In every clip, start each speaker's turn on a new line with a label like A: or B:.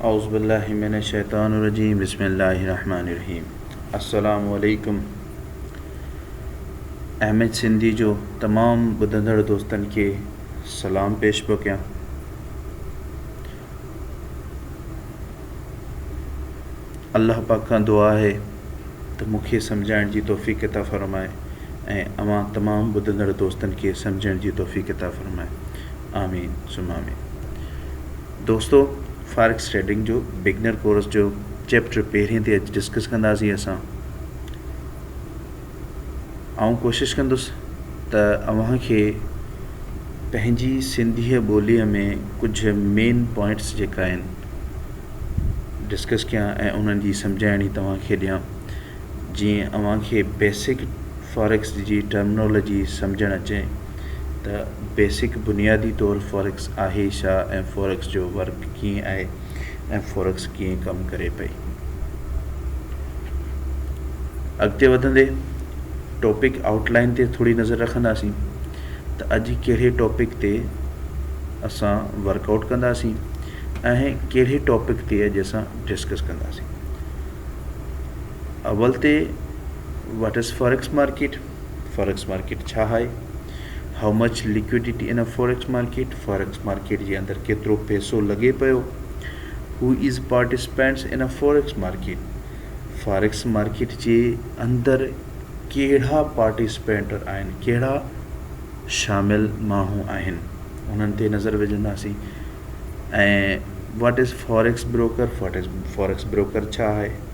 A: اعوذبالله من الشيطان الرجيم بسم الله الرحمن الرحيم السلام عليڪم احمد سنڌي جو تمام ٻڌندڙ دوستن کي سلام پيش پيو ڪيان الله پاڪ کان دعا آهي ته مون کي سمجهائڻ جي توفيق عطا فرماء ۽ اوهان تمام ٻڌندڙ دوستن کي سمجهڻ جي توفيق عطا فرماء آمين ثم آمين دوستو فاريڪس ٽريڊنگ جو بگنر ڪورس جو چيپٽر پهرين تي اڄ ڊسڪس ڪنداسين اسان آئون ڪوشش ڪندس ته اوهان کي پنهنجي سنڌيء ٻوليء ۾ ڪجهه مين پوائنٽس جيڪا آهن ڊسڪس ڪيان ۽ انهن جي سمجهاڻي توهان کي ڏيان جيئن اوهان کي بيسڪ فاريڪس جي ٽرمنالاجي سمجهڻ اچي ته بيسڪ بنيادي طور فاريڪس آهي ڇا ۽ فاريڪس جو ورڪ ڪيئن آهي ۽ فورڪس ڪيئن ڪم ڪري پئي. اڳتي وڌندي ٽاپڪ آئوٽ لائن تي ٿوري نظر رکنداسين ته اڄ ڪهڙي ٽاپڪ تي اسان ورڪ آئوٽ ڪنداسين ۽ ڪهڙي ٽاپڪ تي اڄ اسان ڊسڪس ڪنداسين اول تي what is forex market forex market ڇا آهي؟ How much liquidity in a forex market؟ Forex market جي اندر ڪيترو پئسو لڳي پيو؟ Who is participants in a forex market؟ Forex market جي اندر ڪهڙا پارٽيسپينٽ آهن ڪهڙا شامل ماڻهو آهن انهن تي نظر وجهنداسين ۽ what is forex broker forex broker ڇا آهي؟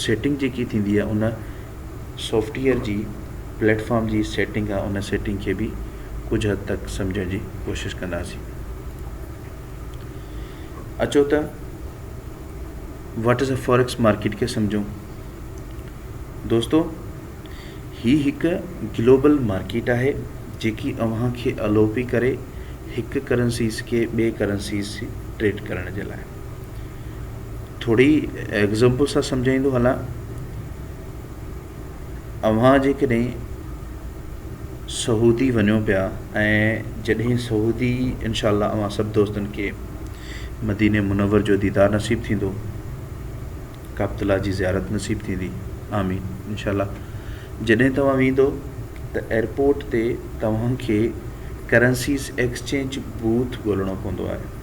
A: سيٽنگ جيڪي ٿيندي آ ان سافٽيئر جي پليٽ فارم جي سيٽنگ آ ان سيٽنگ کي به ڪجھ حد تڪ سمجھڻ جي ڪوشش ڪنداسين اچو ته واٽ از ا فورڪس مارڪيٽ کي سمجھون دوستو هي هڪ گلوبل مارڪيٽ آهي جيڪي اوهان کي الو پي ڪري هڪ ڪرنسيز کي ٻي ڪرنسيز ٽريڊ ڪرڻ جي لاء ٿوري ايگزامپل سان سمجهائيندو هلان، اوهان جيڪڏهن سعودي وڃو پيا ۽ جڏهن سعودي انشاء الله اوهان سڀ دوستن کي مديني منور جو ديدار نصيب ٿيندو ڪعبت الله جي زيارت نصيب ٿيندي آمين انشاء الله جڏهن توهان ويندو ته ايئرپورٽ تي توهان کي ڪرنسيز ايڪسچينج بوٿ ڳولڻو پوندو آهي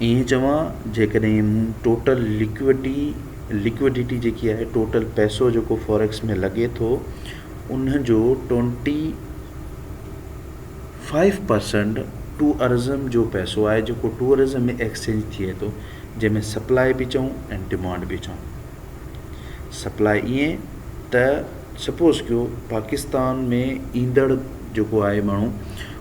A: ائين چوان جيڪڏهن مون ٽوٽل لڪوڊٽي Liquidity جيڪي آهي ٽوٽل پئسو جيڪو Forex ۾ لڳي ٿو ان جو ٽوئنٽي فائيو پرسينٽ ٽوئرزم جو پئسو آهي جيڪو ٽوئرزم ۾ ايڪسچينج ٿئي ٿو جنهن ۾ سپلاء به چئون ۽ ڊمانڊ به چئون سپلاء ائين ته سپوز ڪيو پاڪستان ۾ ايندڙ جيڪو آهي ماڻهو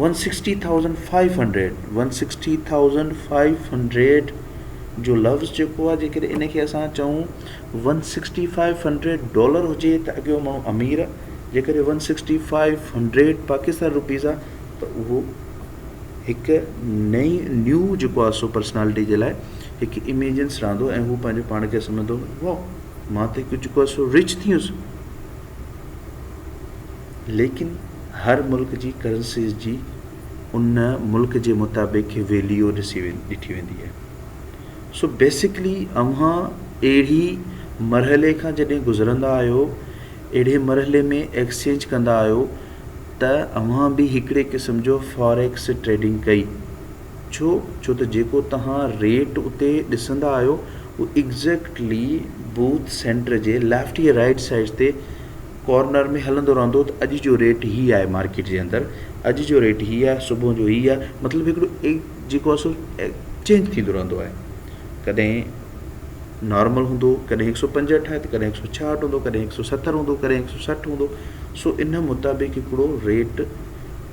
A: one sixty thousand five hundred one sixty thousand five hundred جو لفظ جيڪو آهي جيڪڏهن ان کي اسان چئون one sixty five hundred dollar هجي ته اڳيو ماڻهو امير جيڪڏهن one sixty five hundred Pakistan rupees آهي ته اهو هڪ نئي نيو جيڪو آهي سو پرسنالٽي جي لاء هڪ ايميجنس رهندو ۽ هو پنهنجو پاڻ کي سمجهندو واو مان ته هڪ جيڪو آهي سو رچ ٿي ويس ليڪن هر ملڪ جي ڪرنسيز جي ان ملڪ جي مطابق ويليو ڏٺي ويندي آهي سو بيسڪلي اوهان اهڙي مرحلي کان جڏهن گذرندا آهيو اهڙي مرحلي ۾ ايڪسچينج ڪندا آهيو ته اوهان به هڪڙي قسم جو فاريڪس ٽريڊنگ ڪئي ڇو؟ ڇو ته جيڪو توهان ريٽ اتي ڏسندا آهيو اهو ايگزيڪٽلي بوٿ سينٽر جي ليفٽ يا رائيٽ سائيڊ تي ڪارنر ۾ هلندو رهندو ته اڄ جو ريٽ هي آهي مارڪيٽ جي اندر اڄ جو ريٽ هي آهي صبح جو هي آهي مطلب هڪڙو جيڪو آهي سو چينج ٿيندو رهندو آهي ڪڏهن نارمل هوندو ڪڏهن هڪ سو پنجهٺ آهي ته ڪڏهن هڪ سو ڇاهٺ هوندو ڪڏهن هڪ سو ستر هوندو ڪڏهن هڪ سو سٺ هوندو سو ان مطابق هڪڙو rate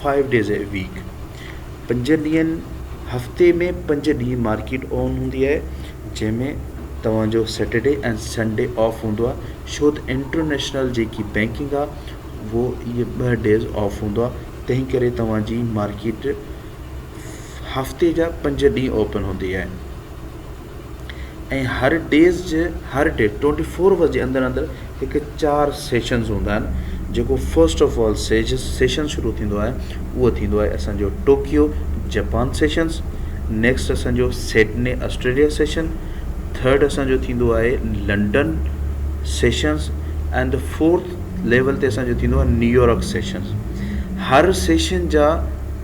A: five days a week پنج ڏينهن هفتي ۾ پنج ڏينهن مارڪيٽ اوون هوندي آهي جنهن ۾ توهان جو سيٽرڊي ۽ سنڊي آف هوندو آهي ڇو ته انٽرنيشنل جيڪي بينڪنگ آهي اهو اهي ٻه ڊيز آف هوندو آهي تنهن ڪري توهان جي مارڪيٽ هفتي جا پنج ڏينهن اوپن هوندي آهي ۽ هر ڊيز جي هر ڊي ٽوئنٽي فور آور جي اندر اندر هڪ چار سيشنز هوندا آهن جيڪو first of all Sej session شروع ٿيندو آهي اهو ٿيندو آهي اسانجو ٽوڪيو جپان سيشنز نيڪسٽ اسانجو سيڊني آسٽريليا سيشن ٿرڊ اسانجو ٿيندو آهي London sessions and the fourth level تي اسانجو ٿيندو آهي نيويارڪ سيشنز هر سيشن جا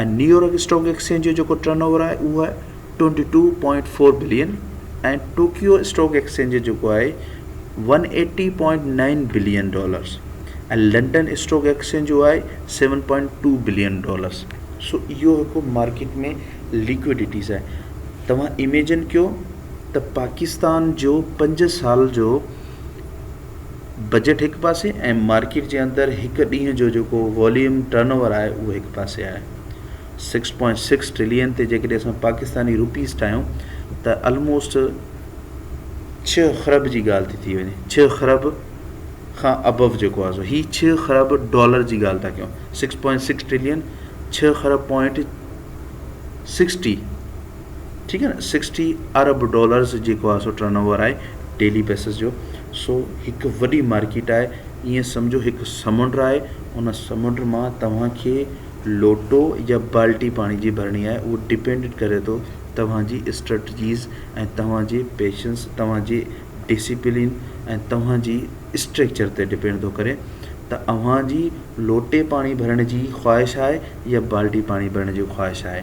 A: ۽ نيويارڪ اسٽاڪ ايڪسچينج جو جيڪو ٽرن اوور آهي اهو آهي twenty two point four billion ۽ Tokyo stock exchange جو جيڪو آهي one eighty point nine billion dollars ۽ London stock exchange جو آهي seven point two billion dollars so اهو هڪ مارڪيٽ ۾ ليڪوڊيٽيز آهي توهان ايميجن ڪيو ته پاڪستان جو پنج سال جو بجيٽ هڪ پاسي ۽ مارڪيٽ جي اندر هڪ ڏينهن جو جيڪو واليوم ٽرن اوور آهي اهو هڪ پاسي آهي سڪس پوائنٽ سڪس ٽرلين تي جيڪڏهن اسان پاڪستاني روپيز ٺاهيون ته الموسٽ ڇهه خرب جي ڳالهه ٿي ٿي وڃي ڇهه خرب کان ابو جيڪو آهي سو هي ڇهه خرب ڊالر جي ڳالهه ٿا ڪيون سڪس پوائنٽ سڪس ٽرلين ڇهه خرب پوائنٽ سڪسٽي ٺيڪ آهي نه سڪسٽي ارب ڊالرز جيڪو آهي سو ٽرن اوور آهي ڊيلي بيسس جو سو هڪ وڏي مارڪيٽ آهي ائين سمجهو هڪ سمنڊ آهي ان سمنڊ مان توهان کي لوٽو يا بالٽي پاڻي جي ڀرڻي آهي اهو ڊپينڊ ڪري ٿو توهان جي اسٽريٽجيز ۽ توهان جي پيشنس توهان جي ڊسپلين ۽ توهان جي اسٽريڪچر تي ڊپينڊ ٿو ڪري ته اوهان جي لوٽي پاڻي ڀرڻ جي خواهش آهي يا بالٽي پاڻي ڀرڻ جي خواهش آهي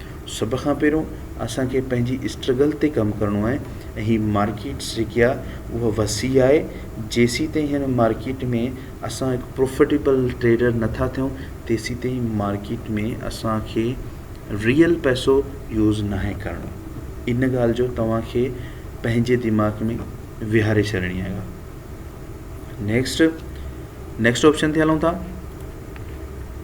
A: سڀ کان پهريون اسان کي پنهنجي اسٽرگل تي ڪم ڪرڻو آهي ۽ هي مارڪيٽس جيڪي آهي اها وسيع آهي جيسيتائين هن مارڪيٽ ۾ اسان هڪ پروفٽيبل ٽريڊر نٿا ٿيون تيسيتائين مارڪيٽ ۾ اسان کي ريئل پئسو يوز ناهي ڪرڻو ان ڳالهه جو توهان کي پنهنجي دماغ ۾ ويهاري ڇڏڻي آهي نيڪسٽ نيڪسٽ آپشن تي هلون ٿا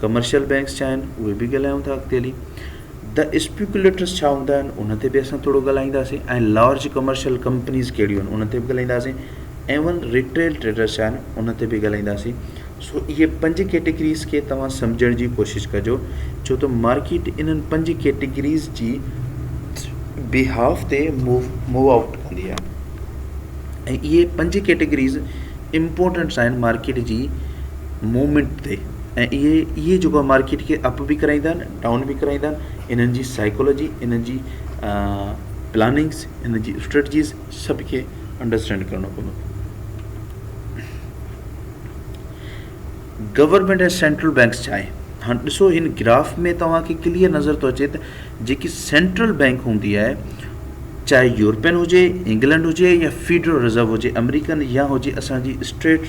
A: ڪمرشل بئنڪس ڇا آهن اهي به ڳالهايون ٿا اڳتي هلي. The Speculators ڇا هوندا آهن ان تي به اسان ٿورو ڳالهائينداسين ۽ لارج ڪمرشل ڪمپنيز ڪهڙيون آهن ان تي به ڳالهائينداسين ايون ريٽيل ٽريڊرز ڇا آهن ان تي به ڳالهائينداسين سو اهي پنج ڪيٽيگريز کي توهان سمجهڻ جي ڪوشش ڪجو ڇو ته مارڪيٽ انهن پنج ڪيٽيگريز جي بيهاف تي موو آئوٽ ڪندي آهي ۽ اهي پنج ڪيٽيگريز امپورٽنٽس آهن مارڪيٽ جي مومينٽ تي ۽ اهي اهي جيڪو آهي مارڪيٽ کي اپ به ڪرائيندا آهن ڊائون به ڪرائيندا آهن انهن جي سائيڪولوجي انهن جي پلاننگس انهن جي اسٽريٽجيز سڀ کي انڊرسٽينڊ ڪرڻو پوندو گورنمنٽ ۽ سينٽرل بينڪس چاهي هاڻ ڏسو هن گراف ۾ توهان کي ڪليئر نظر ٿو اچي ته جيڪي سينٽرل بينڪ هوندي آهي چاهي يورپين هجي انگلنڊ هجي يا فيڊرل رزرو هجي امريڪن يا هجي اسانجي اسٽيٽ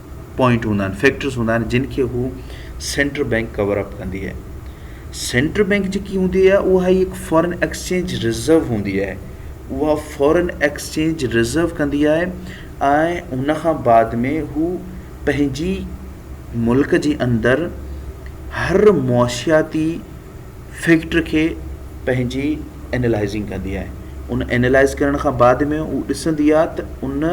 A: پوائنٽ هوندا آهن فيڪٽرس هوندا آهن جن کي هو سينٽرل بينڪ ڪور اپ ڪندي آهي سينٽرل بينڪ جيڪي هوندي آهي اها هي هڪ فارن ايڪسچينج ريزرو هوندي آهي اها فارن ايڪسچينج ريزرو ڪندي آهي ۽ هن کان بعد ۾ هو پنهنجي ملڪ جي اندر هر معاشياتي فيڪٽ کي پنهنجي اينالائزنگ ڪندي آهي ان اينالائز ڪرڻ کان بعد ۾ هو ڏسندي آهي ته ان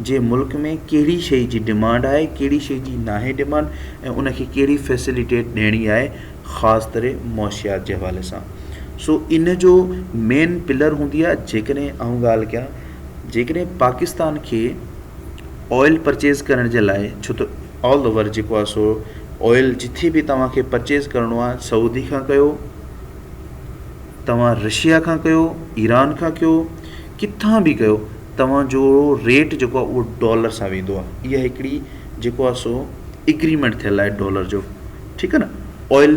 A: جي ملڪ ۾ ڪهڙي شيء جي ڊمانڊ آهي ڪهڙي شيء جي ناهي ڊمانڊ ۽ ان کي ڪهڙي فيسليٽيٽ ڏيڻي آهي خاص طرح معاشيات جي حوالي سان سو ان جو مين پلر هوندي آهي جيڪڏهن آئون ڳالهه ڪيان جيڪڏهن پاڪستان کي آئل پرچيز ڪرڻ جي لاء ڇو ته آل اوور جيڪو آ سو آئل جتي به توهان کي پرچيز ڪرڻو آ سعودي کان ڪيو توهان رشيا کان ڪيو ايران کان ڪيو ڪٿان به ڪيو توهان جو ريٽ جيڪو آ اهو ڊالر سان ويندو آ اها هڪڙي جيڪو آ سو اگريمينٽ ٿيل آهي ڊالر جو ٺيڪ آ نه آئل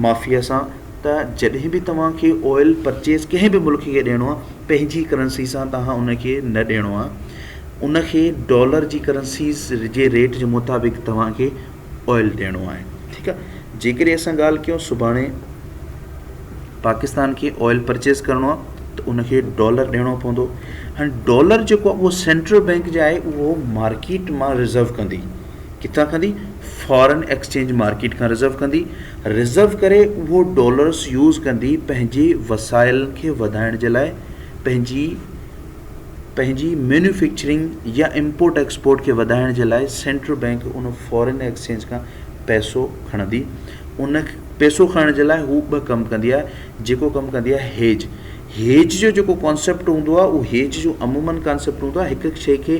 A: مافيا سان ته جڏهن به توهان کي آئل پرچيز ڪنهن به ملڪ کي ڏيڻو آ پنهنجي ڪرنسي سان توهان ان کي نه ڏيڻو آ ان کي ڊالر جي ڪرنسيز جي ريٽ جي مطابق توهان کي آئل ڏيڻو آهي ٺيڪ آهي جيڪڏهن اسان ڳالهه ڪيون سڀاڻي پاڪستان کي آئل پرچيز ڪرڻو آهي ته ان کي ڊالر ڏيڻو پوندو هاڻي ڊالر جيڪو آهي اهو سينٽرل بئنڪ جي آهي اهو مارڪيٽ مان رزرو ڪندي ڪٿان ڪندي فارن ايڪسچينج مارڪيٽ کان رزرو ڪندي رزرو ڪري اهو ڊالرس يوز ڪندي پنهنجي وسائل کي وڌائڻ جي لاء پنهنجي پنهنجي مينوفيڪچرنگ يا امپورٽ ايڪسپورٽ کي وڌائڻ جي لاء سينٽرل بئنڪ ان فارين ايڪسچينج کان پئسو کڻندي. ان پئسو کڻڻ جي لاء هو ٻه ڪم ڪندي آهي جيڪو ڪم ڪندي آهي هيج. هيج جو جيڪو ڪانسيپٽ هوندو آهي اهو هيج جو عمومن ڪانسيپٽ هوندو آهي هڪ شئي کي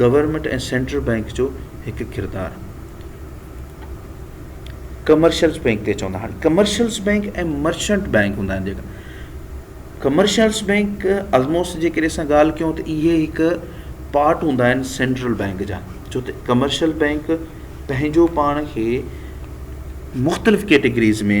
A: گورنمينٽ ۽ سينٽرل بئنڪ جو هڪ ڪردار. ڪمرشلز بئنڪ تي چوندا هاڻي ڪمرشلز بئنڪ ۽ مرچنٽ بئنڪ هوندا آهن جيڪا ڪمرشلز بئنڪ آلموسٽ جي ڪري اسان ڳالهه ڪيون ته اهي هڪ پارٽ هوندا آهن سينٽرل بئنڪ جا ڇو ته ڪمرشل بئنڪ پنهنجو پاڻ کي مختلف ڪيٽيگريز ۾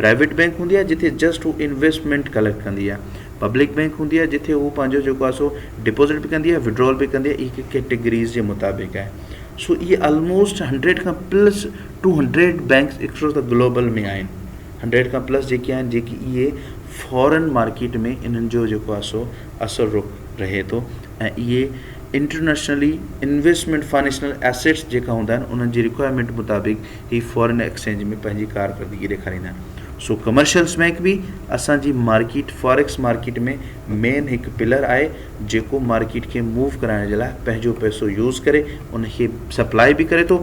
A: پرائيويٽ بئنڪ هوندي آهي جتي جسٽ هو انويسٽمينٽ ڪليڪٽ ڪندي آهي. پبلڪ بئنڪ هوندي آهي جتي هو پنهنجو جيڪو آهي سو ڊپوزٽ به ڪندي آهي وڊرال به ڪندي آهي هي هڪ ڪيٽيگريز جي مطابق آهي سو اهي آلموسٽ هنڊريڊ کان پلس ٽو هنڊريڊ بئنڪس اڪثر ته گلوبل ۾ آهن هنڊريڊ کان پلس جيڪي آهن جيڪي اهي فارن مارڪيٽ ۾ انهن جو جيڪو آهي سو اثر رخ رهي ٿو ۽ اهي انٽرنيشنلي انويسٽمينٽ فائنيشنل ايسيٽس جيڪا هوندا آهن انهن جي رڪوائرمينٽ مطابق هي فارن ايڪسچينج ۾ پنهنجي ڪارڪردگي ڏيکاريندا آهن سو ڪمرشلز بئنڪ به اسان جي مارڪيٽ فاريڪس مارڪيٽ ۾ مين هڪ پلر آهي جيڪو مارڪيٽ کي موو ڪرائڻ جي لاء پنهنجو پئسو يوز ڪري ان کي سپلائي به ڪري ٿو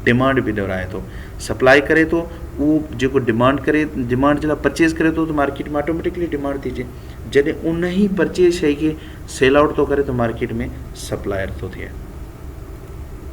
A: ڊمانڊ به دورائي ٿو سپلائي ڪري ٿو اهو جيڪو ڊمانڊ ڪري ڊمانڊ جي لاء پرچيز ڪري ٿو ته مارڪيٽ ۾ آٽوميٽڪلي ڊمانڊ ٿي اچي جڏهن ان هي پرچيز شئي کي سيل آئوٽ ٿو ڪري ته مارڪيٽ ۾ سپلائر ٿو ٿئي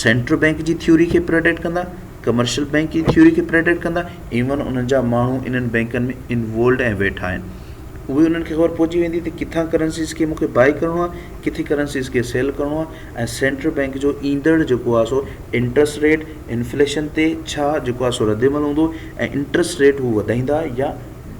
A: سينٽرل بئنڪ جي ٿيوري کي پريڊڪٽ ڪندا، ڪمرشل بئنڪ جي ٿيوري کي پريڊڪٽ ڪندا، ايون انهن جا ماڻهو انهن بئنڪن ۾ انوولڊ ۽ ويٺا آهن، اهي انهن کي خبر پهچي ويندي ته ڪٿان ڪرنسيز کي مون کي بائي ڪرڻو آهي، ڪٿي ڪرنسيز کي سيل ڪرڻو آهي ۽ سينٽرل بئنڪ جو ايندڙ جيڪو آهي سو انٽرسٽ ريٽ، انفليشن تي ڇا جيڪو آهي سو ردعمل هوندو ۽ انٽرسٽ ريٽ هو وڌائيندا يا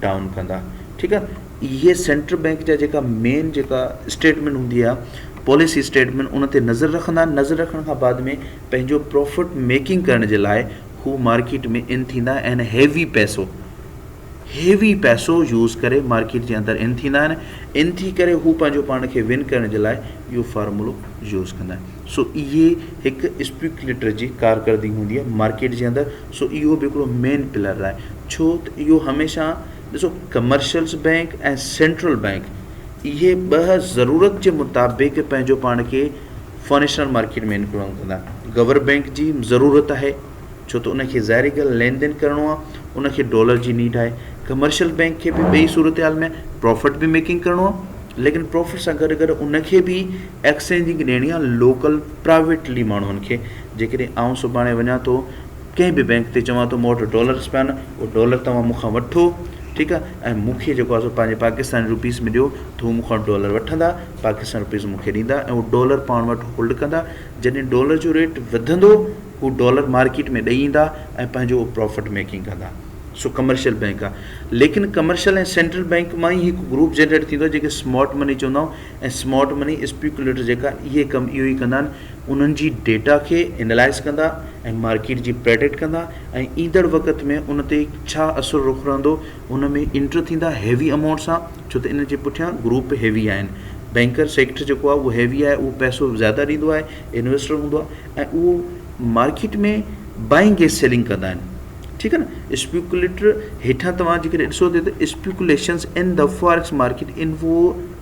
A: ڊائون ڪندا، ٺيڪ آهي. هي سينٽرل بئنڪ جا جيڪا مين جيڪا اسٽيٽمينٽ هوندي آهي پاليسي اسٽيٽمينٽ ان تي نظر رکندا آهن نظر رکڻ کان بعد ۾ پنهنجو پروفٽ ميڪنگ ڪرڻ جي لاء هو مارڪيٽ ۾ ان ٿيندا آهن هيوي پئسو هيوي پئسو يوز ڪري مارڪيٽ جي اندر ان ٿيندا آهن ان ٿي ڪري هو پنهنجو پاڻ کي ون ڪرڻ جي لاء اهو فارمولو يوز ڪندا آهن سو اهي هڪ اسپيڪليٽر جي ڪارڪردگي هوندي آهي مارڪيٽ جي اندر سو اهو به هڪڙو مين پلر آهي ڇو ته اهو هميشه ڏسو ڪمرشلز بئنڪ ۽ سينٽرل بئنڪ اهي ٻه ضرورت جي مطابق پنهنجو پاڻ کي فنشنل مارڪيٽ ۾ انڪلوڊ ڪندا گور بئنڪ جي ضرورت آهي ڇو ته ان کي ظاهري ڳالهه لين دين ڪرڻو آهي ان کي ڊالر جي نيڊ آهي ڪمرشل بئنڪ کي به ٻئي صورتحال ۾ پروفٽ به ميڪنگ ڪرڻو آهي ليڪن پروفٽ سان گڏ گڏ ان کي به ايڪسچينجنگ ڏيڻي آهي لوڪل پرائيويٽلي ماڻهن کي جيڪڏهن آئون سڀاڻي وڃان ٿو ڪنهن به بينڪ تي چوان ٿو مون وٽ ڊالرز پيا آهن اهي ڊالر توهان مون کان وٺو ٺيڪ آهي ۽ مون کي جيڪو آهي پنهنجي پاڪستاني روپيز ۾ ڏيو ته هو مون کان ڊالر وٺندا پاڪستاني روپيز مون کي ڏيندا ۽ هو ڊالر پاڻ وٽ هولڊ ڪندا جڏهن ڊالر جو ريٽ وڌندو هو ڊالر مارڪيٽ ۾ ڏئي ايندا ۽ پنهنجو هو پروفٽ ميڪنگ ڪندا سو ڪمرشل بينڪ آهي ليڪن ڪمرشل ۽ سينٽرل بينڪ مان ئي هڪ گروپ جنريٽ ٿيندو جنهن کي سمارٽ مني چوندا آهيون ۽ سمارٽ مني اسپيڪوليٽر جيڪا اهي ڪم اهو ئي ڪندا آهن انهن جي ڊيٽا کي اينالائز ڪندا ۽ مارڪيٽ جي پريڊڪٽ ڪندا ۽ ايندڙ وقت ۾ ان تي ڇا اثر رخ رهندو ان ۾ انٽر ٿيندا هيوي امائونٽ سان ڇو ته ان جي پٺيان گروپ هيوي آهن بينڪر سيڪٽر جيڪو آهي اهو هيوي آهي اهو پئسو زياده ڏيندو آهي انويسٽر هوندو آهي ۽ اهو مارڪيٽ ۾ بائنگ ايز سيلنگ ڪندا آهن ٺيڪ آهي نه اسپيڪوليٽر هيٺان توهان جيڪڏهن ڏسو ته اسپيڪوليشنز ان د فاريڪس مارڪيٽ ان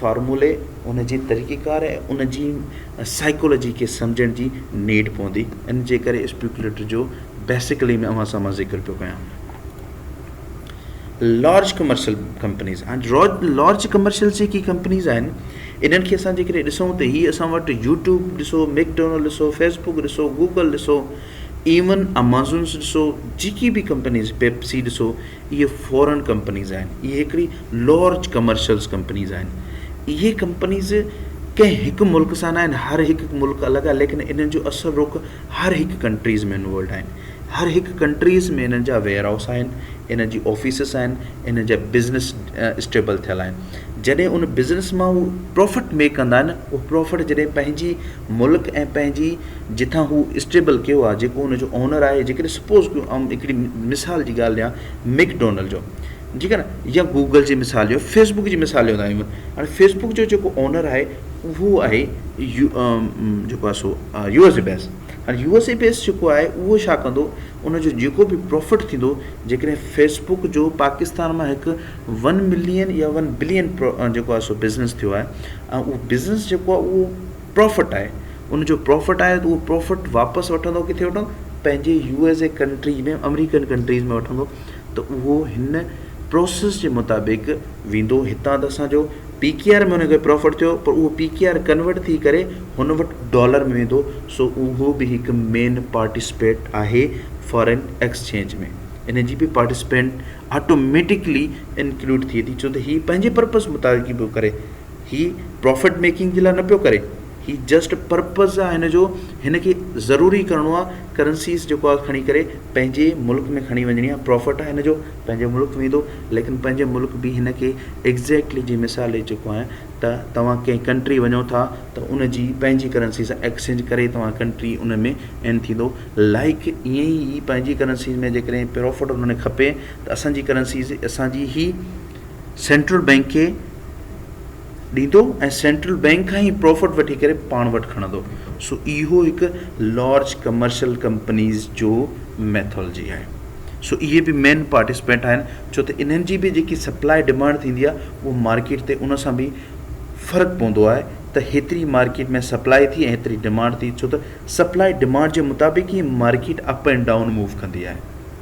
A: فارمولي، ان جي طريقيڪار ۽ ان جي سائيڪالوجي کي سمجهڻ جي نيڊ پوندي، ان جي ڪري اسپيڪوليٽر جو بيسيڪلي ۾ اوهان سامهون ذڪر پيو ڪيان. لارج ڪمرشل ڪمپنيز هاڻي لارج ڪمرشل جيڪي ڪمپنيز آهن انهن کي اسان جيڪڏهن ڏسون ته هي اسان وٽ يوٽيوب ڏسو ميڪڊونلڊ ڏسو فيس بڪ ڏسو گوگل ڏسو ايون امازونس ڏسو جيڪي به ڪمپنيز پيپسي ڏسو اهي فورن ڪمپنيز آهن اهي هڪڙي لارج ڪمرشلز ڪمپنيز آهن اهي ڪمپنيز ڪنهن هڪ ملڪ سان نه آهن هر هڪ ملڪ الڳ آهي ليڪن انهن جو اصل رخ هر هڪ ڪنٽريز ۾ انوولڊ آهن هر هڪ ڪنٽريز ۾ انهن جا ويئر هائوس آهن انهن جي آفيسز آهن انهن جا بزنس اسٽيبل ٿيل آهن جڏهن ان بزنس مان هو پروفٽ ميڪ ڪندا آهن اهو پروفٽ جڏهن پنهنجي ملڪ ۽ پنهنجي جتان هو اسٽيبل ڪيو آهي جيڪو ان جو اونر آهي جيڪڏهن سپوز ڪيون آئون هڪڙي مثال جي ڳالهه ڏيان ميڪ ڊونلڊ جو جيڪا نه يا گوگل جي مثال ڏيو فيس بڪ جي مثال ڏيندا آهيون هاڻي فيس بڪ جو جيڪو اونر آهي اهو آهي يو جيڪو آهي سو يو ايس اي بيس هاڻي يو ايس اي بيس جيڪو آهي اهو ڇا ڪندو ان جو جيڪو بي پروفٽ ٿيندو جيڪڏهن فيس بڪ جو پاڪستان مان هڪ ون ملين يا ون بلين جيڪو آهي سو بزنس ٿيو آهي ۽ اهو بزنس جيڪو آهي اهو پروفٽ آهي ان جو پروفٽ آهي اهو پروفٽ واپس وٺندو ڪٿي وٺندو پنهنجي U S A country ۾ American countries ۾ وٺندو ته اهو هن پروسيس جي مطابق ويندو هتان ته اسان جو پي ڪي آر ۾ ان کي پرافٽ ٿيو پر اهو پي ڪي آر ڪنورٽ ٿي ڪري هن وٽ ڊالر ۾ ويندو سو اهو به هڪ مين پارٽيسپيٽ آهي فارين ايڪسچينج ۾ ان جي به پارٽيسپينٽ آٽوميٽڪلي انڪلوڊ ٿئي ٿي ڇو ته هي پنهنجي پرپز مطابق به ڪري هي پرافٽ ميڪنگ جي لاء نه پيو ڪري هي جسٽ پرپز آ هن جو هن کي ضروري ڪرڻو آ ڪرنسيز جيڪو آ کڻي ڪري پنهنجي ملڪ ۾ کڻي وڃڻي آ پرافٽ آ هن جو پنهنجي ملڪ ويندو ليڪن پنهنجي ملڪ به هن کي ايگزيڪٽلي جي مثال ڏئي چڪو آهيان ته توهان ڪنهن ڪنٽري وڃو ٿا ته ان جي پنهنجي ڪرنسي سان ايڪسچينج ڪري توهان ڪنٽري ان ۾ ان ٿيندو لائق ائين ئي پنهنجي ڪرنسيز ۾ جيڪڏهن پرافٽ انهن کي کپي ته اسان جي ڪرنسيز اسان جي هي سينٽرل بئنڪ کي ڏيندو ۽ سينٽرل بئنڪ کان هي پروفٽ وٺي ڪري پاڻ وٽ کڻندو سو اهو هڪ لارج ڪمرشل ڪمپنيز جو ميٿولجي آهي سو اهي به مين پارٽيسپينٽ آهن ڇو ته انهن جي به جيڪي سپلاء ڊمانڊ ٿيندي آهي اهو مارڪيٽ تي ان سان به فرق پوندو آهي ته هيتري مارڪيٽ ۾ سپلاء ٿي ۽ هيتري ڊمانڊ ٿي ڇو ته سپلاء ڊمانڊ جي مطابق ئي market up and down move ڪندي آهي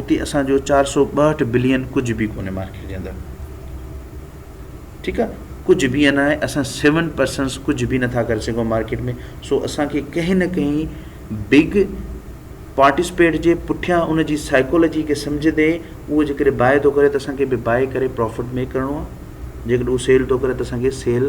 A: اتي اسان جو چار سؤ ٻاهٺ بلين ڪجهه به ڪونهي مارڪيٽ جي اندر ٺيڪ آ ڪجهه به انا آهي اسان سيون پرسنس ڪجهه به نٿا ڪري سگهون مارڪيٽ ۾ سو اسان کي ڪنهن نه ڪنهن بگ پارٽيسپيٽ جي پٺيان ان جي سائيڪولوجي کي سمجهي ڏي اهو جيڪڏهن بائي ٿو ڪري ته اسان کي به بائي ڪري پروفٽ ميڪ ڪرڻو آ جيڪڏهن اهو سيل ٿو ڪري ته اسان کي سيل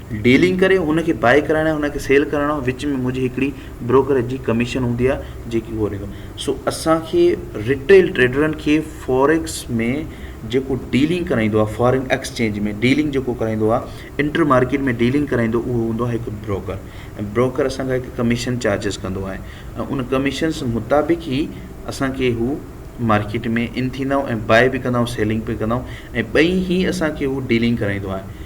A: ڊيلنگ ڪري ان کي بائي ڪرائڻ يا ان کي سيل ڪرائڻ ۾ وچ ۾ منهنجي هڪڙي بروڪريج جي ڪميشن هوندي آهي جيڪي هو ڏيندو آهي سو اسان کي رٽيل ٽريڊرن کي فوريڪس ۾ جيڪو ڊيلنگ ڪرائيندو آهي فارين ايڪسچينج ۾ ڊيلنگ جيڪو ڪرائيندو آهي انٽر مارڪيٽ ۾ ڊيلنگ ڪرائيندو اهو هوندو آهي هڪ بروڪر ۽ بروڪر اسان کان هڪ ڪميشن چارجز ڪندو آهي ۽ ان ڪميشنس مطابق ئي اسان کي هو مارڪيٽ ۾ ان ٿيندا آهيون ۽ بائي به ڪندا آهيون سيلنگ به ڪندا آهيون ۽ ٻئي هي اسان کي هو ڊيلنگ ڪرائيندو آهي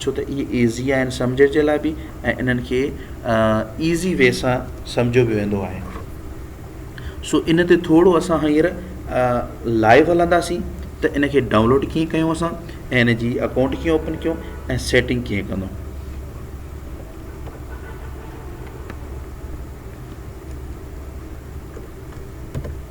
A: ڇو ته اهي ايزي آهن سمجهڻ جي لاء به ۽ انهن کي ايزي وي سان سمجهيو به ويندو آهي سو ان تي ٿورو اسان هينئر لائيو هلنداسين ته ان کي ڊائونلوڊ ڪيئن ڪيون اسان ۽ ان جي اڪائونٽ ڪيئن اوپن ڪيون ۽ سيٽنگ ڪيئن ڪندو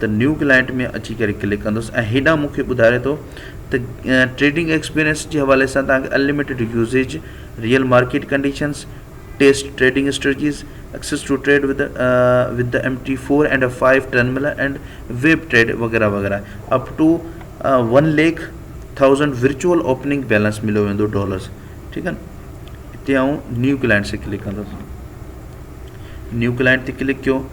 A: ته نيو ڪلائنٽ ۾ اچي ڪري ڪلڪ ڪندس ۽ هيڏانهن مون کي ٻڌاري ٿو ته ٽريڊنگ ايڪسپيرينس جي حوالي سان توهان کي unlimited usage real market conditions test trading strategies access to trade وڌ وڌ M T four and F five terminal and web trade وغيره وغيره up to one lakh thousand virtual opening balance مليو ويندو ڊالرس ٺيڪ آهن هتي آئون نيو ڪلائنٽس کي ڪلڪ ڪندس نيو ڪلائنٽ تي ڪلڪ ڪيو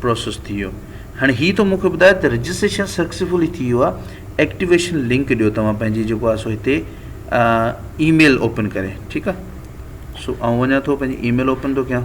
A: پروسيس ٿي ويو هاڻي هي ٿو مونکي ٻڌايو ته رجسٽريشن سڪسيسفلي ٿي ويو آهي ايڪٽيويشن لنڪ ڏيو توهان پنهنجي جيڪو آهي سو هتي اي ميل اوپن ڪري ٺيڪ آهي سو آئون وڃان ٿو پنهنجي اي ميل اوپن ٿو ڪيان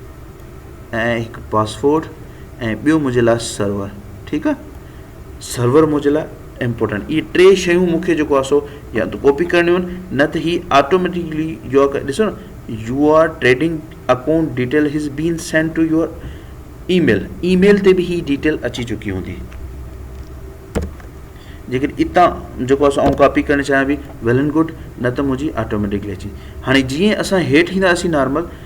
A: ۽ هڪ پاسورڊ ۽ ٻيو منهنجي لاء سرور ٺيڪ آ سرور منهنجي لاء امپورٽنٽ اهي ٽي شيون مون کي جيڪو آ سو يا ته ڪاپي ڪرڻيون آهن نه ته هي آٽوميٽڪلي جو آ ڏسو نه your trading account detail has been send to your email email تي به هي ڊيٽيل اچي چڪي هوندي جيڪڏهن اتان جيڪو آ سو آئون ڪاپي ڪرڻ چاهيان پي ويل اينڊ گڊ نه ته منهنجي آٽوميٽڪلي اچي هاڻي جيئن اسان هيٺ اينداسين نارمل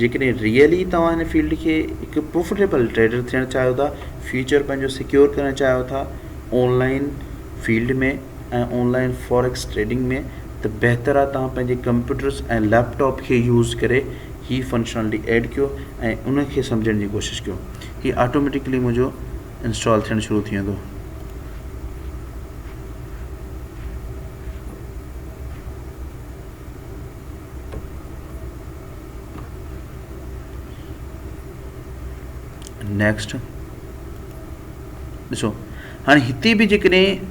A: جيڪڏهن ريئل ئي توهان هن فيلڊ کي هڪ پروفٽيبل ٽريڊر ٿيڻ چاهيو ٿا، فيوچر پنهنجو سيڪيور ڪرڻ چاهيو ٿا online field ۾ ۽ online forex trading ۾ ته بهتر آهي توهان پنهنجي ڪمپيوٽرس ۽ ليپ ٽاپ کي يوز ڪري هي فنڪشنالٽي ايڊ ڪيو ۽ ان کي سمجهڻ جي ڪوشش ڪيو هي آٽوميٽيڪلي منهنجو انسٽال ٿيڻ شروع ٿي ويندو. نيڪسٽ ڏسو هاڻي هتي به جيڪڏهن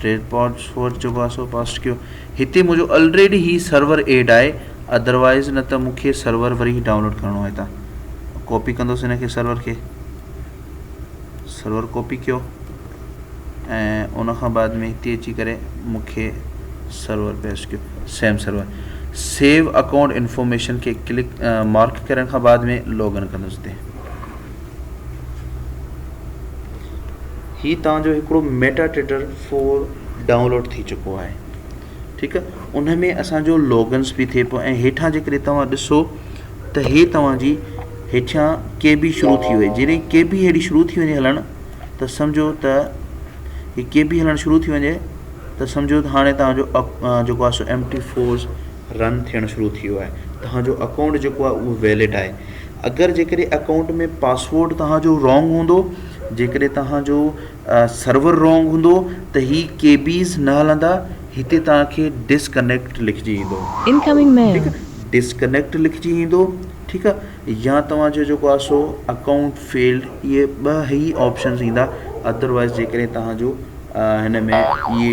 A: ٽريڊ پاڊ سوئچ جو پاسورڊ پاسٽ ڪيو هتي منهنجو آلريڊي هي سرور ايڊ آهي اڌروائز نه ته مونکي سرور وري ڊائونلوڊ ڪرڻو آهي هتان ڪاپي ڪندوس هن کي سرور کي سرور ڪاپي ڪيو ۽ ان کان بعد ۾ هتي اچي ڪري مونکي سرور پيسٽ ڪيو same server save account information کي ڪلڪ مارڪ ڪرڻ کان بعد ۾ لاگ ان ڪندوس هتي هي توهان جو هڪڙو ميٽا ٽيٽر فور ڊائونلوڊ ٿي چڪو آهي ٺيڪ آهي ان ۾ اسان جو لوگنس به ٿئي پيو ۽ هيٺان جيڪڏهن توهان ڏسو ته هي توهان جي هيٺيان ڪي بي شروع ٿي وئي جڏهن ڪي بي هيڙي شروع ٿي وڃي هلڻ ته سمجهو ته هي ڪي بي هلڻ شروع ٿي وڃي ته سمجهو ته هاڻي توهان جو جيڪو آهي سو ايم ٽي فورس رن ٿيڻ شروع ٿي ويو آهي توهان جو اڪائونٽ جيڪو آهي اهو ويلڊ آهي اگر جيڪڏهن اڪائونٽ ۾ پاسورڊ توهان جو رونگ هوندو جيڪڏهن توهان جو سرور رونگ هوندو ته هي ڪي بيز نه هلندا هتي توهان کي ڊسڪنيڪٽ لکجي ايندو Incoming mail ٺيڪ آهي ڊسڪنيڪٽ لکجي ايندو ٺيڪ آهي يا توهان جو جيڪو آهي سو اڪائونٽ فيلڊ اهي ٻه هي آپشنز ايندا ادروائز جيڪڏهن توهان جو هن ۾ اهي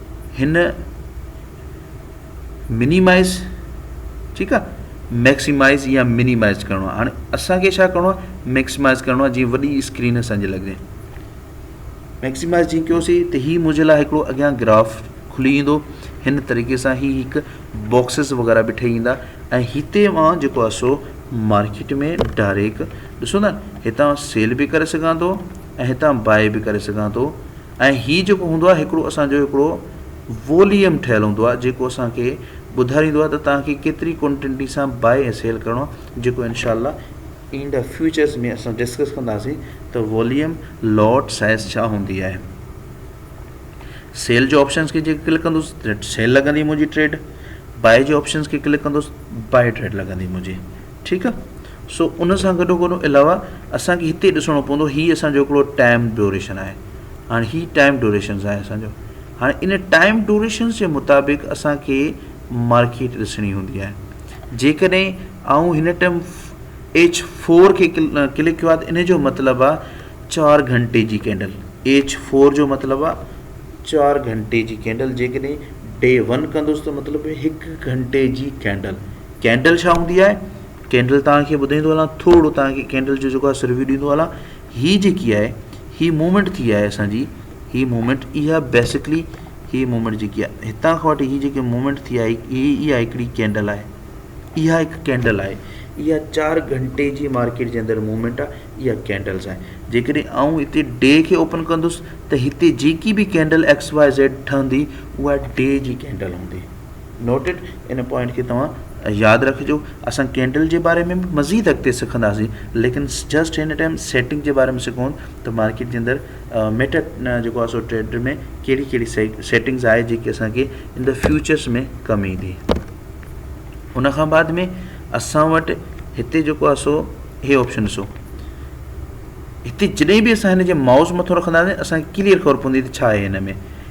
A: هن منيمائز ٺيڪ آهي ميڪسيمائز يا منيمائز ڪرڻو آهي هاڻي اسانکي ڇا ڪرڻو آهي ميڪسيمائز ڪرڻو آهي جيئن وڏي اسڪرين اسانجي لڳجي ميڪسيمائز جيئن ڪيوسي ته هي منهنجي لاء هڪڙو اڳيان گراف کلي ايندو هن طريقي سان هي هڪ باڪسز وغيرا به ٺهي ايندا ۽ هتي مان جيڪو آهي سو مارڪيٽ ۾ ڊائريڪٽ ڏسو نا هتان سيل به ڪري سگهان ٿو ۽ هتان باء به ڪري سگهان ٿو ۽ هي جيڪو هوندو آهي هڪڙو اسان جو هڪڙو ووليم ٺهيل هوندو آهي جيڪو اسان کي ٻڌاريندو آهي ته توهان کي ڪيتري ڪونٽنٽي سان بائي ۽ سيل ڪرڻو آهي جيڪو انشاء الله ايندا فيوچرز ۾ اسان ڊسڪس ڪنداسين ته ووليم لوٽ سائز ڇا هوندي آهي سيل جو آپشنس کي جيڪي ڪلڪ ڪندوس سيل لڳندي منهنجي ٽريڊ بائي جو آپشنس کي ڪلڪ ڪندوس بائي ٽريڊ لڳندي منهنجي ٺيڪ آ سو ان سان گڏو گڏ علاوه اسان کي هتي ڏسڻو پوندو هي اسان جو هڪڙو ٽائيم ڊيوريشن آهي هاڻي هي ٽائيم ڊيوريشنز آهي اسان جو هاڻي ان ٽائيم ڊيوريشنز جي مطابق اسان کي مارڪيٽ ڏسڻي هوندي آهي جيڪڏهن آئون هن ٽائيم ايچ فور کي ڪلڪ ڪيو آهي ته ان جو مطلب آ چار گهنٽي جي ڪينڊل ايچ فور جو مطلب آ چار گهنٽي جي ڪينڊل جيڪڏهن ڊي ون ڪندوس ته مطلب هڪ گهنٽي جي ڪينڊل ڪينڊل ڇا هوندي آهي؟ ڪينڊل توهان کي ٻڌائيندو هلان ٿورڙو توهان کي ڪينڊل جو جيڪو آهي سرويو ڏيندو هلان هي جيڪي آهي هي موومينٽ ٿي آهي اسان جي هي موومينٽ اها بيسڪلي هي موومينٽ جيڪي آهي هتان کان وٺي هي جيڪي موومينٽ ٿي آهي هي اها هڪڙي ڪينڊل آهي اها هڪ ڪينڊل آهي اها چار گهنٽي جي مارڪيٽ جي اندر موومينٽ آهي اها ڪينڊلس آهي جيڪڏهن آئون هتي ڊي کي اوپن ڪندس ته هتي جيڪي به ڪينڊل ايڪس واء زيڊ ٺهندي اها ڊي جي ڪينڊل هوندي Noted، ان پوائنٽ کي توهان ياد رکجو. اسان ڪينڊل جي باري ۾ به مزيد اڳتي سکنداسين ليڪن جسٽ هن ٽائيم سيٽنگ جي باري ۾ سکون ته مارڪيٽ جي اندر ميٽا جيڪو آهي سو ٽريڊر ۾ ڪهڙي ڪهڙي سيٽنگز آهي جيڪي اسان کي ان د فيوچرس ۾ ڪم ايندي ان کان بعد ۾ اسان وٽ هتي جيڪو آهي سو هي آپشن ڏسو هتي جڏهن به اسان هن جي مائوز مٿو رکنداسين اسانکي ڪليئر خبر پوندي ته ڇا آهي هن ۾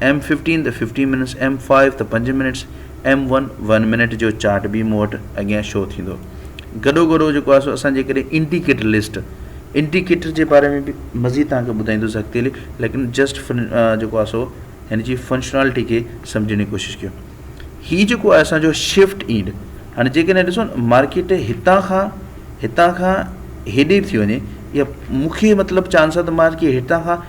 A: ايم ففٽين ته ففٽين منٽس، ايم فائيو ته پنج minutes, M one one minute جو چارٽ به مون وٽ اڳيان شو ٿيندو. گڏو گڏ جيڪو آهي سو اسان جيڪڏهن انڊيڪيٽر لسٽ، انڊيڪيٽر جي باري ۾ به مزيد توهان کي ٻڌائيندوس اڳتي لي ليڪن جسٽ فن جيڪو آهي سو هن جي فنشنالٽي کي سمجهڻ جي ڪوشش ڪيو. هي جيڪو آهي اسان جو شفٽ اينڊ هاڻي جيڪڏهن ڏسو نه مارڪيٽ هتان کان هتان کان هيڏي به ٿي وڃي يا مون کي مطلب چانس آهي ته مارڪيٽ هتان کان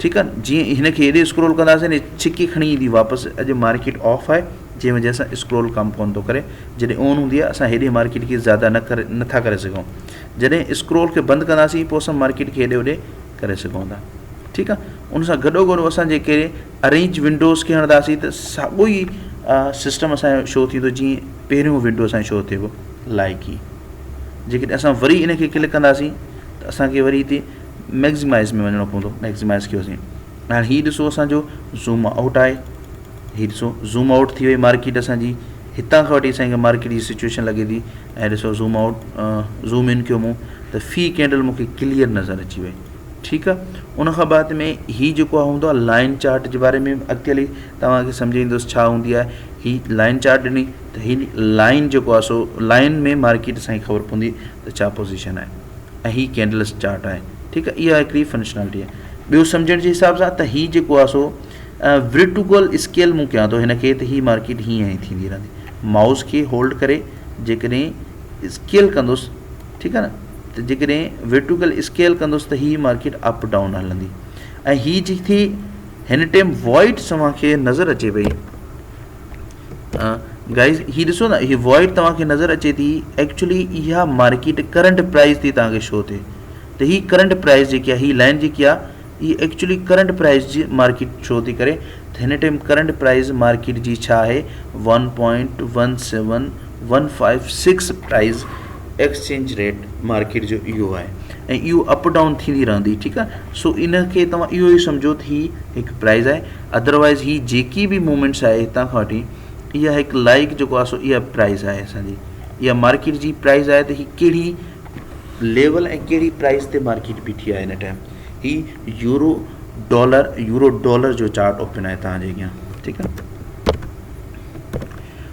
A: ٺيڪ آ جيئن هن کي هيڏي اسڪرول ڪنداسين هي ڇڪي کڻي ايندي واپس اڄ مارڪيٽ آف آهي جنهن وجه سان اسڪرول ڪم ڪون ٿو ڪري جڏهن اون هوندي آهي اسان هيڏي مارڪيٽ کي زياده نه ڪري نٿا ڪري سگهون جڏهن اسڪرول کي بند ڪنداسين پوء اسان مارڪيٽ کي هيڏي هوڏي ڪري سگهون ٿا ٺيڪ آ ان سان گڏو گڏ اسان جيڪي ارينج ونڊوز کي هڻنداسين ته ساڳو ئي سسٽم اسانجو شو ٿيندو جيئن پهريون ونڊو اسانجو شو ٿئي پيو لائقي جيڪڏهن اسان وري ان کي ڪلڪ ڪنداسين ته اسانکي وري هتي ميگزمائز ۾ وڃڻو پوندو ميگزمائز ڪيوسين ھاڻي ھي ڏسو اسانجو زوم آئوٽ آھي ھي ڏسو زوم آئوٽ ٿي وئي مارڪيٽ اسانجي ھتان کان وٺي اسانکي مارڪيٽ جي سچويشن لڳي ٿي ۽ ڏسو زوم آئوٽ زوم ان ڪيو مون ته في ڪينڊل مونکي ڪليئر نظر اچي وئي ٺيڪ آ ان کان بعد ۾ ھي جيڪو آ ھوندو آ لائن چارٽ جي باري ۾ اڳتي ھلي توھانکي سمجھائيندس ڇا ھوندي آھي ھي لائن چارٽ ڏني ته ھي لائن جيڪو آ سو لائن ۾ مارڪيٽ اسانکي خبر پوندي ته ڇا پوزيشن آھي ۽ هي ڪينڊلس چارٽ آهي ٺيڪ آهي اها هڪڙي فنڪشنالٽي آهي ٻيو سمجهڻ جي حساب سان ته هي جيڪو آهي سو ورٽوگل اسڪيل مون ڪيان ٿو هن کي ته هي مارڪيٽ هيئن هيئن ٿيندي رهندي مائوس کي هولڊ ڪري جيڪڏهن اسڪيل ڪندوس ٺيڪ آهي ن ته جيڪڏهن ورٽوگل اسڪيل ڪندوس ته هي مارڪيٽ اپ ڊاؤن هلندي ۽ هي جي ٿي هن ٽائم وائٽ سوان کي نظر اچي پئي گائيز هي ڏسو نه هي وائڊ توهان کي نظر اچي ٿي ايڪچولي اها مارڪيٽ ڪرنٽ پرائز تي توهان کي شو ٿي ته هي ڪرنٽ پرائز جيڪي هي لائن جيڪي آ هي ايڪچولي ڪرنٽ پرائز جي مارڪيٽ شو ٿي ڪري ته هن ٽائم ڪرنٽ پرائز مارڪيٽ جي ڇا آهي one point one seven one five six price exchange rate market جو اهو آهي ۽ اهو اپ ڊاؤن ٿيندي رهندي ٺيڪ آهي سو ان کي توهان اهو ئي سمجهو ته هي هڪ پرائز آهي اڌروائز هي جيڪي به موومينٽس آهي هتان کان وٺي اها هڪ لائق جيڪو آهي سو اها پرائز آهي اسانجي اها مارڪيٽ جي پرائز آهي ته هي ڪهڙي ليول ۽ ڪهڙي پرائز تي مارڪيٽ بيٺي آهي هن ٽائم هي يورو ڊالر يورو ڊالر جو چارٽ اوپن آهي تانجي اڳيان ٺيڪ آهي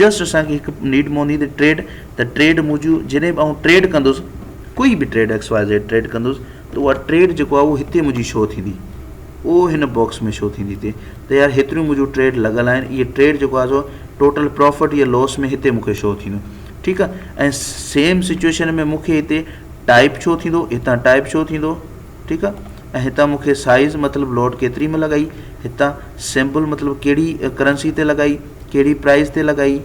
A: جسٽ اسان کي هڪ نيڊ موني تي ٽريڊ ته ٽريڊ منهنجو جڏهن به آئون ٽريڊ ڪندس ڪوئي به trade X Y Z trade ڪندس ته اها ٽريڊ جيڪو آهي اهو هتي منهنجي شو ٿيندي اهو هن باڪس ۾ شو ٿيندي تي ته يار هيتريون منهنجو ٽريڊ لڳل آهن اهي ٽريڊ جيڪو آهي سو ٽوٽل پروفٽ يا لوس ۾ هتي مونکي شو ٿيندو ٺيڪ آهي ۽ سيم سچويشن ۾ مونکي هتي ٽائپ شو ٿيندو هتان ٽائپ شو ٿيندو ٺيڪ آ ۽ هتان مون کي سائيز مطلب لوٽ ڪيتري ۾ لڳائي هتان سيمبل مطلب ڪهڙي ڪرنسي تي لڳائي ڪهڙي پرائز تي لڳائي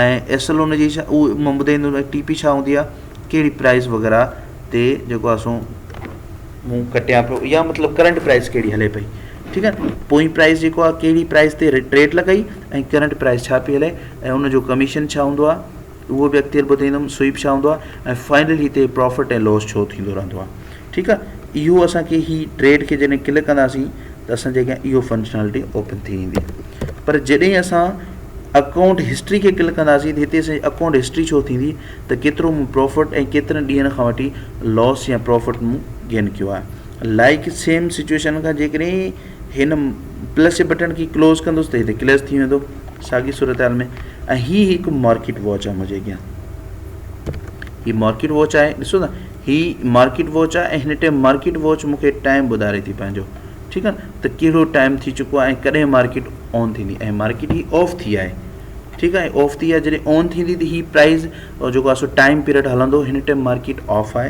A: ۽ ايس ايل ان جي ڇا اهو مان ٻڌائيندو ۽ ٽي پي ڇا هوندي آ ڪهڙي پرائز وغيره تي جيڪو آ سو مون ڪٽيان پيو يا مطلب ڪرنٽ پرائز ڪهڙي هلي پئي ٺيڪ آ پوئين پرائز جيڪو آ ڪهڙي پرائز تي ٽريڊ لڳائي ۽ ڪرنٽ پرائز ڇا پي هلي ۽ ان جو ڪميشن ڇا هوندو آ اهو به اڳتي هل ٻڌائيندم سوئيپ ڇا هوندو آهي ۽ فائنل هتي پرافٽ ۽ لوس ڇو ٿيندو رهندو آهي ٺيڪ آهي اهو اسان کي هي ٽريڊ کي جڏهن ڪلڪ ڪنداسين ته اسان جي اڳيان اهو فنڪشنالٽي اوپن ٿي ويندي پر جڏهن اسان اڪائونٽ هسٽري کي ڪلڪ ڪنداسين ته هتي اسان اڪائونٽ هسٽري ڇو ٿيندي ته کيترو مون پرافٽ ۽ ڪيترن ڏينهن کان وٺي لوس يا پرافٽ مون گين ڪيو آهي لائڪ سيم سچويشن کان جيڪڏهن هن پلس جي بٽڻ کي ڪلوز ڪندس ته هتي ڪليس ٿي ويندو ساڳي صورتحال ۾ ۽ هي هڪ مارڪيٽ واچ آهي منهنجي اڳيان هي مارڪيٽ واچ آهي ڏسو نا هي مارڪيٽ واچ آهي ۽ هن ٽائم مارڪيٽ واچ مونکي ٽائم ٻڌاري ٿي پنهنجو ٺيڪ آهي ته ڪهڙو ٽائم ٿي چڪو آهي ۽ ڪڏهن مارڪيٽ آن ٿيندي ۽ مارڪيٽ هي آف ٿي آهي ٺيڪ آهي آف ٿي آهي جڏهن آن ٿيندي ته هي پرائز جيڪو آهي سو ٽائم پيريڊ هلندو هن ٽائم مارڪيٽ آف آهي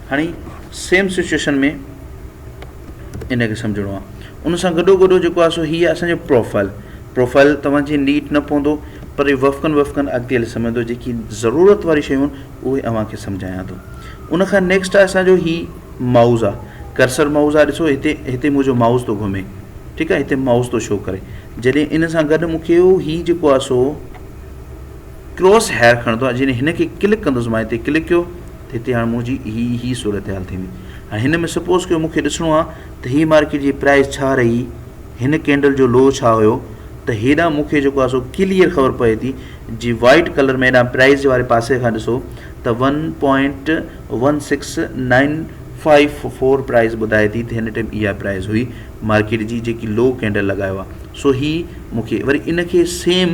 A: هاڻي سيم سچوئيشن ۾ ان کي سمجهڻو آهي ان سان گڏو گڏ جيڪو آهي سو هي آهي اسانجو پروفائل پروفائل توهان جي نيٽ نه پوندو پر وفقن وفقن اڳتي هلي سمجهندو جيڪي ضرورت واري شيون اهي اوهان کي سمجهايان ٿو ان کان نيڪسٽ آهي اسانجو هي مائوز آهي ڪرسر مائوز آهي ڏسو هتي هتي منهنجو مائوز ٿو گهمي ٺيڪ آهي هتي مائوز ٿو شو ڪري جڏهن ان سان گڏ مونکي هي جيڪو آهي سو ڪروس هيئر کڻندو آهي جڏهن هن کي ڪلڪ ڪندس مان هتي ڪلڪ ڪيو ته هتي هاڻي منهنجي هي هي صورتحال ٿيندي هاڻي هن ۾ سپوز ڪيو مون کي ڏسڻو آهي ته هي مارڪيٽ جي پرائز ڇا رهي هن ڪينڊل جو لو ڇا هيو ته هيڏانهن مون کي جيڪو آهي سو ڪليئر خبر پئي ٿي جي وائيٽ ڪلر ۾ هيڏانهن پرائز جي واري پاسي کان ڏسو ته one point one six nine five four price ٻڌائي ٿي ته هن ٽائم اها پرائز هئي مارڪيٽ جي جيڪي لو ڪينڊل لڳايو آهي سو هي مون کي وري ان کي سيم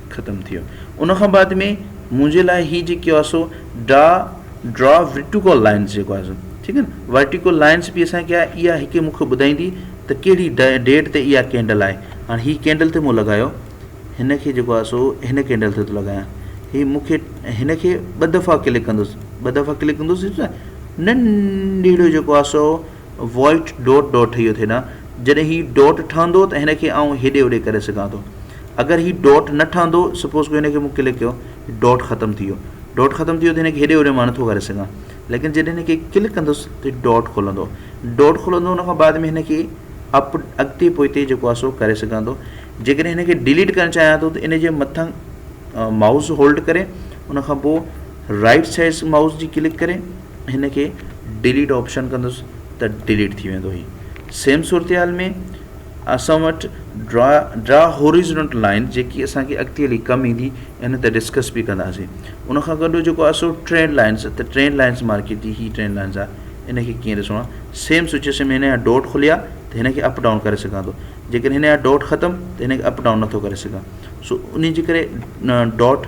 A: ختم ٿيو ان کان بعد ۾ منهنجي لاء هي جيڪي آهي سو ڊا ڊرا ورٽيڪول لائنس جيڪو آهي سو ٺيڪ آهي نه ورٽيڪول لائنس به اسان کي آهي اها هڪ مونکي ٻڌائيندي ته ڪهڙي ڊيٽ تي اها ڪينڊل آهي هاڻي هي ڪينڊل تي مون لڳايو هن کي جيڪو آهي سو هن کينڊل تي ٿو لڳايان هي مونکي هن کي ٻه دفعا ڪلڪ ڪندوسي ٻه دفعا ڪلڪ ڪندوسي ننڍڙو جيڪو آهي سو وائٽ ڊوٽ ڊوٽ ٺهي اهو ٿئي نه جڏهن هي ڊوٽ ٺهندو ته هن کي آئون هيڏي هوڏي ڪري سگهان ٿو اگر هي ڊوٽ نه ٺهندو سپوز ڪيو هن کي مون ڪلڪ ڪيو ڊوٽ ختم ٿي ويو ڊوٽ ختم ٿي ويو ته هن کي هيڏي هوڏي مان نٿو ڪري سگهان ليڪن جڏهن هن کي ڪلڪ ڪندس ته ڊوٽ کلندو ڊوٽ کلندو ان کان بعد ۾ هن کي اپ اڳتي پوئتي جيڪو آهي سو ڪري سگهان ٿو جيڪڏهن هن کي ڊيليٽ ڪرڻ چاهيان ٿو ته ان جي مٿان مائوس هولڊ ڪري ان کان پوء رائٽ سائز مائوس جي ڪلڪ ڪري هن کي ڊيليٽ آپشن ڪندس ته ڊيليٽ ٿي ويندو هي سيم صورتحال ۾ اسان وٽ ڊرا ڊرا هوريزنٽ لائن جيڪي اسانکي اڳتي هلي ڪم ايندي ان تي ڊسڪس به ڪنداسي ان کان گڏ جيڪو اسو ٽرينڊ لائنس ته ٽرينڊ لائنس مارڪيٽ جي هي ٽرينڊ لائنس آ ان کي ڪيئن ڏسڻو آ سيم سچويشن ۾ هن جا ڊوٽ کليا ته هن کي اپ ڊائون ڪري سگهان ٿو جيڪڏهن هن جا ڊوٽ ختم ته هن کي اپ ڊائون نٿو ڪري سگهان سو انهي جي ڪري ڊوٽ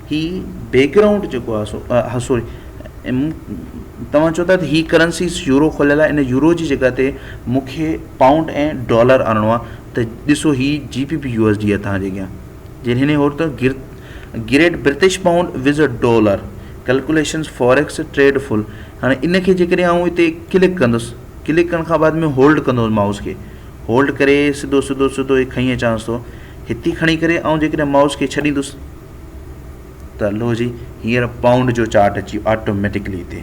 A: هي بيڪ گرائونڊ جيڪو آهي سو ها سوري توهان چئو ٿا ته هي ڪرنسيز يورو کليل آهي ان يورو جي جڳهه تي مونکي پائونڊ ۽ ڊالر آڻڻو آهي ته ڏسو هي G B P U S D آهي توهان جي اڳيان جي هن هور ته گر گريٽ برتش پائونڊ وز ا ڊالر ڪلڪوليشنز فاريڪس ٽريڊ فل هاڻي ان کي جيڪڏهن آئون هتي ڪلڪ ڪندس ڪلڪ ڪرڻ کان بعد ۾ هولڊ ڪندس مائوس کي هولڊ ڪري سڌو سڌو سڌو هي کڻي اچانس ٿو هتي کڻي ڪري آئون جيڪڏهن مائوس کي ڇڏيندس ته لو جي هينئر پائونڊ جو چارٽ اچي آٽوميٽڪلي هتي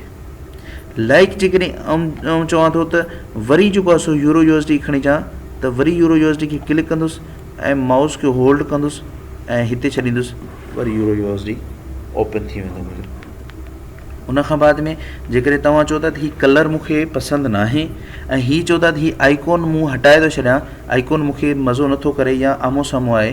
A: لائڪ جيڪڏهن آئون چوان ٿو ته وري جيڪو آسو يورو يو ايس ڊي کڻي چان ته وري يورو يو ايس ڊي کي ڪلڪ ڪندس ۽ مائوس کي هولڊ ڪندس ۽ هتي ڇڏيندس وري euro U S D open ٿي ويندو منهنجو ان کان بعد ۾ جيڪڏهن توهان چو ٿا ته هي ڪلر مونکي پسند ناهي ۽ هي چو ٿا ته هي آئيڪون مون هٽائي ٿو ڇڏيان آئيڪون مونکي مزو نٿو ڪري يا آمهون سامهون آهي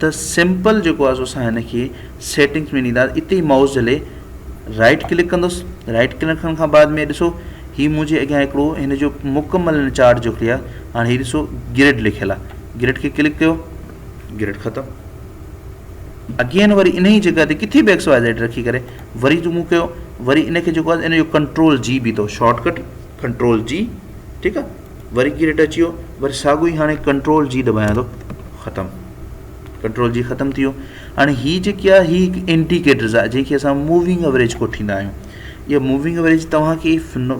A: ته سيمپل جيڪو آهي سو اسان هن کي سيٽنگس ۾ ڏينداس اتي ئي مائوس جهلي رائٽ ڪلڪ ڪندس رائٽ ڪلڪ ڪرڻ کان بعد ۾ ڏسو هي منهنجي اڳيان هڪڙو هن جو مڪمل هن چارٽ جو ڪليئر هاڻي هي ڏسو گرڊ لکيل آهي گرڊ کي ڪلڪ ڪيو گرڊ ختم اگين وري ان جي جڳھ تي ڪٿي به ايڪس واء زيڊ رکي ڪري وري زوم ڪيو وري ان کي جيڪو آهي ان جو ڪنٽرول جي بي اٿو شارٽ ڪٽ ڪنٽرول جي ٺيڪ آ وري ڪي ريٽ اچي ويو وري ساڳو ئي هاڻي ڪنٽرول جي دٻايان ٿو ختم ڪنٽرول جي ختم ٿي ويو هاڻي هي جيڪي آ هي هڪ انڊيڪيٽرز آ جنهن کي اسان موونگ اويريج ڪوٺيندا آهيون اها موونگ اويريج توهان کي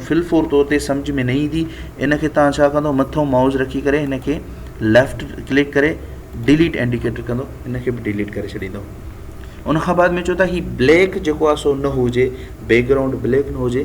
A: فل فور طور تي سمجھ ۾ نه ايندي ان کي توهان ڇا ڪندو مٿو مائوز رکي ڪري هن کي ليفٽ ڪلڪ ڪري ڊيليٽ انڊيڪيٽر ڪندو ان کي به ڊيليٽ ڪري ڇڏيندو ان کان بعد ۾ چو ته هي بليڪ جيڪو آ سو نه هجي بيڪ گرائونڊ بليڪ نه هجي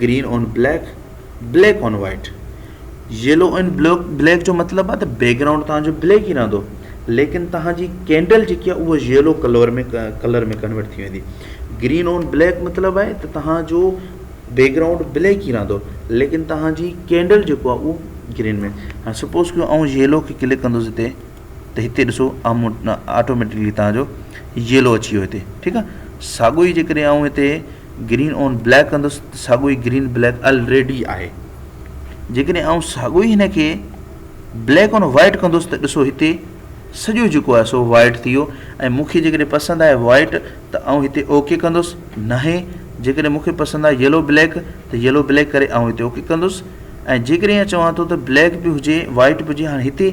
A: green on black black on white yellow on black black جو مطلب آ ته بيڪ گرائونڊ تهان جو بليڪ ئي رهندو ليڪن تهان جي ڪينڊل جيڪي آ اها يلو ڪلور ۾ ڪلر ۾ ڪنورٽ ٿي ويندي گرين آن بليڪ مطلب آهي ته تهان جو بيڪ گرائونڊ بليڪ ئي رهندو ليڪن تهان جي ڪينڊل جيڪو آ اهو گرين ۾ هاڻي سپوز ڪيو آئون يلو کي ڪلڪ ڪندوس هتي ته هتي ڏسو آمون آٽوميٽڪلي تهان جو يلو اچي ويو هتي ٺيڪ آ ساڳو ئي جيڪڏهن آئون هتي گرين آن بليڪ ڪندس ته ساڳو ئي گرين بليڪ الريڊي آهي جيڪڏهن آئون ساڳو ئي هن کي بليڪ آن وائٽ ڪندس ته ڏسو هتي سڄو جيڪو آهي سو وائٽ ٿي ويو ۽ مونکي جيڪڏهن پسند آهي وائٽ ته آئون هتي اوڪي ڪندس ناهي جيڪڏهن مونکي پسند آهي يلو بليڪ ته يلو بليڪ ڪري آئون هتي اوڪي ڪندس ۽ جيڪڏهن چوان ٿو ته بليڪ به هجي وائٽ به هجي هاڻي هتي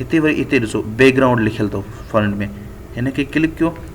A: هتي وري هتي ڏسو بيڪ گرائونڊ لکيل اٿو فرنٽ ۾ هن کي ڪلڪ ڪيو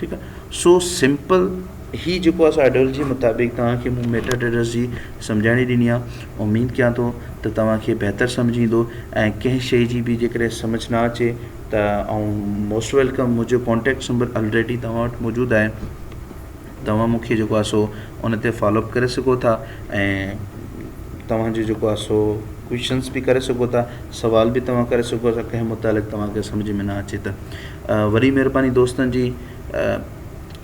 A: ٺيڪ آ سو سمپل هي جيڪو آ سو آئيڊيولوجي مطابق توهان کي مون ميٽا ٽريڊرس جي سمجهاڻي ڏني آ اميد ڪيان ٿو ته توهان کي بهتر سمجهه ايندو ۽ ڪنهن شيء جي به جيڪڏهن سمجهه نه اچي ته آئون موسٽ ويلڪم منهنجو ڪانٽيڪٽس نمبر آلريڊي توهان وٽ موجود آهي توهان مون کي جيڪو آهي سو ان تي فالو اپ ڪري سگهو ٿا ۽ توهان جو جيڪو آهي سو ڪوئشنس به ڪري سگهو ٿا سوال به توهان ڪري سگهو ٿا ڪنهن متعلق توهان کي سمجھ ۾ نه اچي ته وڏي مهرباني دوستن جي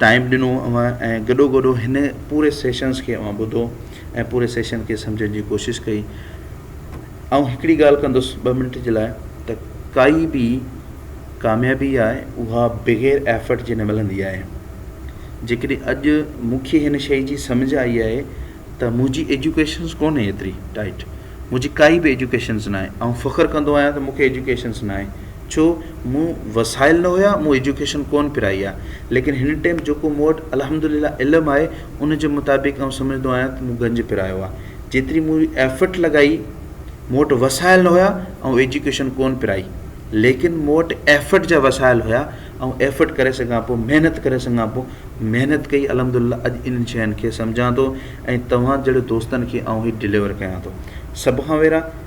A: ٽائم ڏنو اوهان ۽ گڏو گڏو هن پوري سيشنس کي اوهان ٻڌو ۽ پوري سيشن کي سمجھڻ جي ڪوشش ڪئي آئون هڪڙي ڳالهه ڪندس ٻه منٽ جي لاء ته ڪائي به ڪاميابي آهي اها بغير ايفرٽ جي نه ملندي آهي جيڪڏهن اڄ مون کي هن شيء جي سمجھ آئي آهي ته منهنجي ايجوڪيشنس ڪونهي ايتري ٽائٽ منهنجي ڪائي به ايجوڪيشنس ناهي آئون فخر ڪندو آهيان ته مون کي ايجوڪيشنس ناهي ڇو مون وسائل نه هيا مون ايجوڪيشن ڪونه پرائي آهي ليڪن هن ٽائيم جيڪو مون وٽ الحمدلله علم آهي ان جي مطابق آئون سمجهندو آهيان ته مون گنج پرايو آهي جيتري مون ايفرٽ لڳائي مون وٽ وسائل نه هيا آئون ايجوڪيشن ڪون پرائي ليڪن مون وٽ ايفرٽ جا وسائل هيا آئون ايفرٽ ڪري سگهان پيو محنت ڪري سگهان پيو محنت ڪئي الحمد لله اڄ انهن شين کي سمجهان ٿو ۽ توهان جهڙو دوستن کي آئون هي ڊليور ڪيان ٿو سڀ کان ويرا